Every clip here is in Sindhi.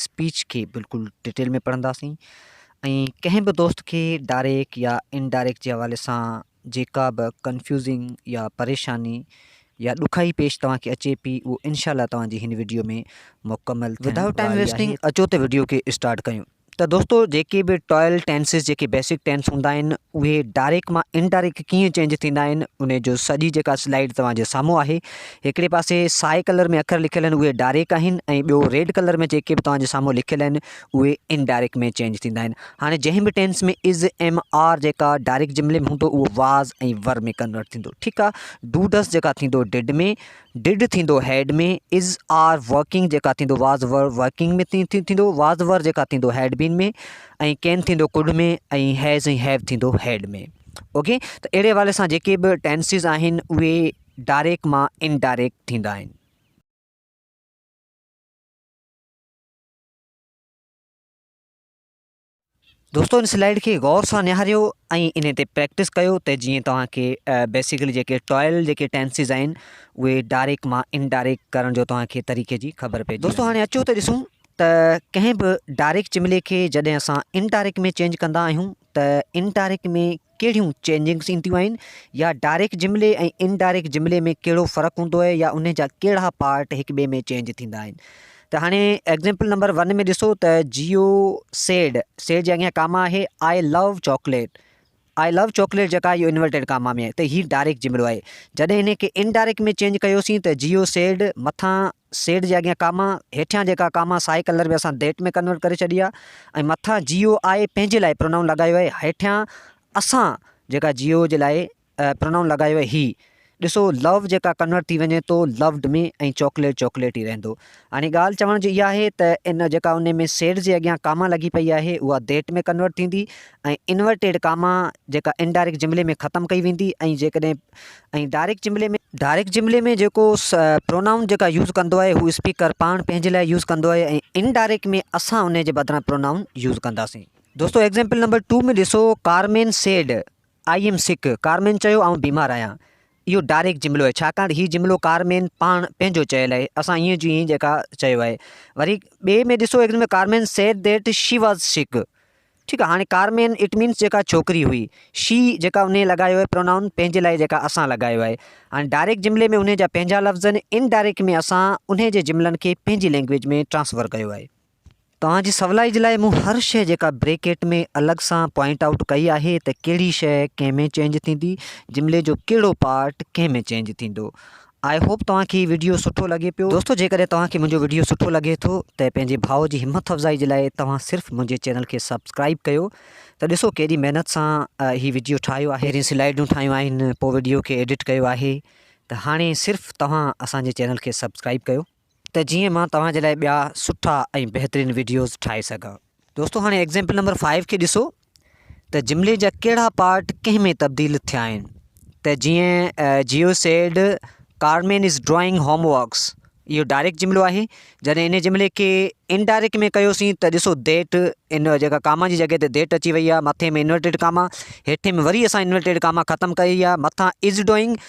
اسپيچ کي بلڪل ڊٽيل ۾ پڙهنداسين ۽ ڪنهن به دوست کي ڊائريڪٽ يا ان ڊائريڪٽ جي حوالي سان جيڪا به ڪنفيوزنگ يا پريشاني يا ڏکائي پيش توهان کي اچي پي اهو انشاء الله توهان جي هن وڊيو ۾ مڪمل ٿيڻ واري آهي. ودائوٽ ٽائيم ويسٽنگ اچو ته وڊيو کي اسٽارٽ ڪيون ته دوستو جيڪي به ٽائل ٽينسز جيڪي بيسڪ ٽينس هوندا آهن اهي ڊائريڪٽ مان ان ڊائريڪٽ ڪيئن چينج ٿيندا آهن ان جو سڄي جيڪا سلائيڊ توهان جي سامهون آهي هڪڙي پاسي سائي ڪلر ۾ اکر لکيل آهن اهي ڊاريڪ آهن ۽ ٻيو ريڊ ڪلر ۾ جيڪي به توهان جي سامهون لکيل آهن اهي ان ڊاريڪ ۾ چينج ٿيندا آهن هاڻي جنهن به ٽينس ۾ از ايم آر جيڪا ڊاريڪ جملي ۾ هوندو اهو واز ۽ ور ۾ ڪنورٽ ٿيندو ٺيڪ آهي ڊو ڊس جيڪا ٿيندو ڊڊ ۾ ڊڊ ٿيندو هيڊ ۾ از آر ورڪنگ جيڪا ٿيندو واز ور ورڪنگ ۾ ٿيندو واز ور جيڪا ٿيندو هيڊ بين ۾ ۽ ڪين ٿيندو ڪڊ ۾ ۽ هيز ۽ هيو ٿيندو هيڊ ۾ اوڪي ته اهڙي حوالي سان جيڪي به ٽينسز آهن اهي ڊائريڪٽ مان ان ڊائريڪٽ ٿيندا آهن. دوستو ان سلائيڊ کي غور سان نهاريو ۽ ان تي پريڪٽس ڪيو ته جيئن توهان کي بيسيڪلي جيڪي ٽوائل جيڪي ٽينسز آهن اهي ڊائريڪٽ مان ان ڊائريڪٽ ڪرڻ جو توهان کي طريقي جي خبر پئجي دوستو هاڻي اچو ته ڏسون ته ڪنهن به ڊائريڪٽ جملي کي جڏهن اسان ان ڊائريڪٽ ۾ چينج ڪندا آهيون ته ان ڊائريڪٽ ۾ ڪهڙيون چينجنگس اينديون آهن يا ڊائريڪٽ جملي ۽ ان ڊائريڪٽ جملي ۾ ڪهڙو فرق هوندو آهي يا ان جا ڪهڙا پارٽ هڪ ٻئي ۾ چينج ٿيندا آهن ته هاڻي ايگزيمپل نمبر ون ۾ ڏسو ته جيو سيڊ سيڊ جي اڳيان ڪاما آهي I love chocolate I love chocolate جيڪا اهو انورٽيڊ ڪاما ۾ آهي ته هي ڊائريڪٽ جملو آهي جڏهن هن کي ان ڊائريڪٽ ۾ چينج ڪيوسين ته جيو سيڊ مٿان سيڊ جي اڳيان ڪاما هيٺيان جيڪا ڪاما سائي ڪلر به اسان ديٽ ۾ ڪنورٽ ڪري ڇڏي آ ۽ مٿان جيو آء پنهنجي لاء پرونائون لڳايو آهي هيٺيان اسان جيڪا جيو جي لاء پرونائون لڳايو آهي هي ڏسو لو جيڪا ڪنورٽ ٿي وڃي تو لوڊ ۾ ۽ چاڪليٽ چاڪليٽ ئي رهندو هاڻي ڳالهه چوڻ جي اها آهي ته ان جيڪا ان ۾ سيڊ جي اڳيان ڪاما لڳي پئي آهي اها ديٽ ۾ ڪنورٽ ٿيندي ۽ انورٽيڊ ڪاما جيڪا انڊائريڪٽ جملي ۾ ختم ڪئي ويندي ۽ جيڪڏهن ۽ ڊائريڪٽ جملي ۾؟ ڊائريڪٽ جملي ۾ جيڪو پرونائون جيڪا يوز ڪندو آهي هو اسپيڪر پاڻ پنهنجي لاء يوز ڪندو آهي ۽ ان ڊائريڪٽ ۾ اسان انهي جي بدران پرونائون يوز ڪنداسين. دوستو ايگزامپل نمبر ٽو ۾ ڏسو Carmen said I am sick Carmen چيو آئون بيمار آهيان اهو ڊائريڪٽ جملو آهي ڇاڪاڻ هي جملو ڪارمين پاڻ پنهنجو چيل آهي اسان ائين جو ائين جيڪا چيو آهي وري ٻئي ۾ ڏسو example Carmen said that she was sick ٺيڪ آ هاڻي ڪارمين اٽ مينس جيڪا ڇوڪري هئي. شي جيڪا انهيء لاڳايو آهي پرونائون پنهنجي لاء جيڪا اسان لاڳايو آهي. هاڻي ڊائريڪٽ جملي ۾ انهيء جا پنهنجا لفظ آهن ان ڊائريڪٽ ۾ اسان انهيء جي جملن کي پنهنجي لينگويج ۾ ٽرانسفر ڪيو آهي. توهان جي سولائي جي لاء مون هر شيء جيڪا بريڪيٽ ۾ الڳ سان پوائنٽ آئوٽ ڪئي آهي ته ڪهڙي شيء ڪنهن ۾ چينج ٿيندي جملي جو ڪهڙو پارٽ ڪنهن ۾ چينج ٿيندو آء هوپ توهان کي هي وڊيو سٺو لڳي پيو دوستو جيڪڏهن توهان کي منهنجو وڊيو سٺو لڳي ٿو ته پنهنجي ڀاء جي همٿ افزائي جي لاء توهان صرف منهنجي چينل کي سبسڪرائيب ڪيو ته ڏسو ڪيڏي محنت سان هي وڊيو ٺاهيو آهي پهرين سلائيڊون ٺاهيون آهن پوء وڊيو کي ايڊٽ ڪيو آهي ته هاڻي صرف توهان اسان جي چينل کي سبسڪرائيب ڪيو. ته جيئن مان توهان جي لاء ٻيا سٺا ۽ بهترين ويڊيوز ٺاهي سگهان. دوستو هاڻي ايگزيمپل نمبر فائيو کي ڏسو ته جملي جا ڪهڙا پارٽ ڪنهن ۾ تبديل ٿيا آهن ته جيئن Joe said Carmen is drawing home works اهو ڊائريڪٽ جملو آهي جڏهن ان جملي کي انڊائريڪٽ ۾ ڪيوسين ته ڏسو ديٽ ان جيڪا ڪاما جي جڳهه تي ديٽ اچي وئي آهي مٿي ۾ انورٽيڊ ڪاما هيٺي ۾ وري اسان انورٽيڊ ڪاما ختم ڪئي آهي مٿان از ڊوئنگ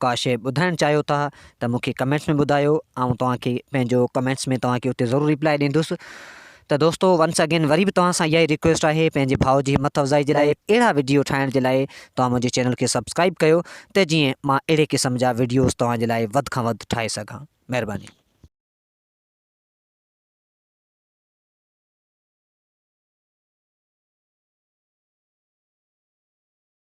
ڪا شيء ٻڌائڻ چاهيو ٿا ته مون کي ڪمينٽس ۾ ٻڌايو آئون توهان کي پنهنجو ڪمينٽس ۾ توهان کي اتي ضرور ريپلائي ڏيندس ته دوستو ونس اگين وري به توهان سان اها ئي ريڪويسٽ آهي پنهنجي ڀاء جي همٿ افزائي جي لاء اهڙا وڊيو ٺاهڻ جي لاء توهان منهنجي چينل کي سبسڪرائب ڪيو ته جيئن مان اهڙي قسم جا وڊيوز توهان جي لاء وڌ کان وڌ ٺاهي سگهان مهرباني.